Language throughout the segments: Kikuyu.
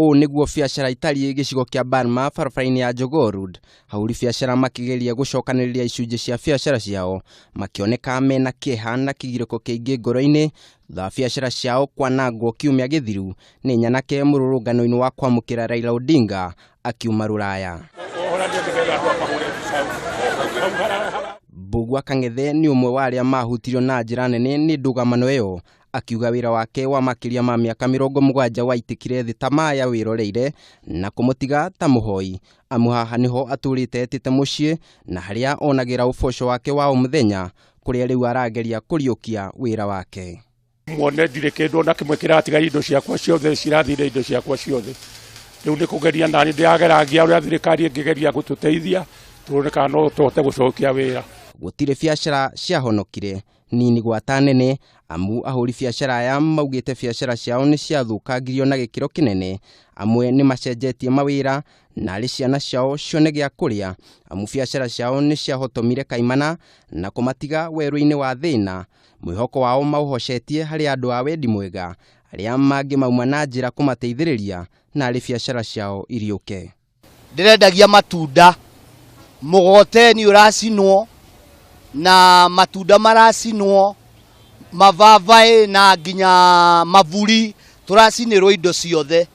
ũũ nĩguo biacara itariĩ gĩcigo kĩa Burma barabara-inĩ ya Jogoo Road. Ahũri biacara makĩgeria gũcokanĩrĩria icunjĩ cia biacara ciao makĩoneka mena kĩeha na kĩgirĩko kĩingĩ ngoro-inĩ thutha wa biacara ciao kwanangwo kiumia gĩthiru nĩ nyanake mũrũrũngano-inĩ wa kwamũkĩra Raila Odinga akiuma rũraya. Mbũgua Kang'ethe nĩ ũmwe wa arĩa mahutirio na njĩra nene nĩ ndũgamano ĩyo akiuga wĩra wake wa makĩria ma mĩaka mĩrongo mũgwanja waitĩkire thĩ ta maĩ awĩroreire na kũmũtiga ta mũhoi amu haha nĩho atũrĩte etĩte mũciĩ na harĩa onagĩra ũboco wake wa o mũthenya kũrĩa rĩu arageria kũriũkia wĩra wake. muone ndirä kä ndå ona kä mwe kä ratiga indo ciakwa ciothe cirathire indo ciakwa ciothe rä u nä kå geria nani ndä ageragia å rä a thirikari ä ngä geria gå tå teithia tå rone kana no tå hote gå cokia wä ra gũtirĩ biacara ciahonokire nini gwata nene amu ahũri biacara aya maugĩte biacara ciao nĩ ciathũkangirio na gĩkĩro kĩnene amwe nĩ macenjetie mawĩra na arĩ ciana ciao cione gĩa kũrĩa amu biacara ciao nĩ ciahotomire kaimana na kũmatiga werũ-inĩ wa thĩna Mwĩhoko wao maũhocetie harĩ andũ a wendi mwega arĩa mangĩmauma na njĩra kũmateithĩrĩria na arĩ biacara ciao iriũke. Ndĩrendagia matunda, mũgoteni ũracinwo na matunda maracinwo, mababaĩ na nginya maburi, tũracinĩrwo indo ciothe.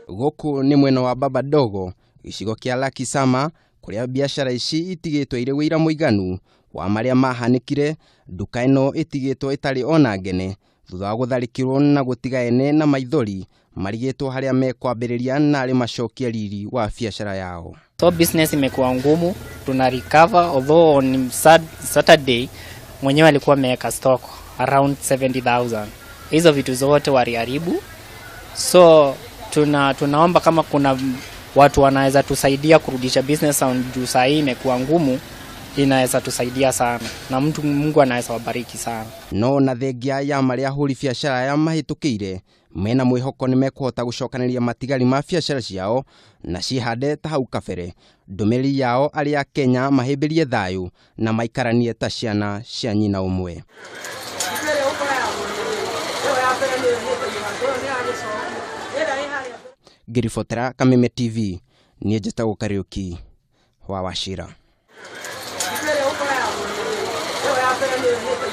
Gũkũ nĩ mwena wa Baba Dogo, gĩcigo kĩa Lakisama, kũrĩa biacara ici itigĩtwo irĩ wĩira mũiganu wa marĩa mahanĩkire, nduka ĩno ĩtigĩtwo ĩtarĩ ona ngene thutha wa gũtharĩkĩrwo na gũtiga ene na maithori marigĩtwo harĩa mekwambĩrĩria na arĩ macokie riri wa biacara yao. So business imekuwa ngumu, tuna recover although on Saturday mwenyewe alikuwa ameweka stock around 70,000. Hizo vitu zote waliharibu so tuna, tunaomba kama kuna watu wanaweza tusaidia kurudisha business on juu saa hii imekuwa ngumu inaweza tusaidia sana na mtu mungu anaweza wabariki sana no na thengia ya marĩa ahũri biacara aya mahĩtũkĩire mena mwĩhoko nĩ mekũhota gũcokanĩria matigari ma biacara ciao na ciĩhande ta hau kabere ndũmĩrĩri yao arĩa a kenya mahĩmbĩrie thayũ Na maikaranie ta ciana cia nyina ũmwe. Ngĩribotera Kameme TV, niĩ njĩtagwo Kariũki wa Wachira.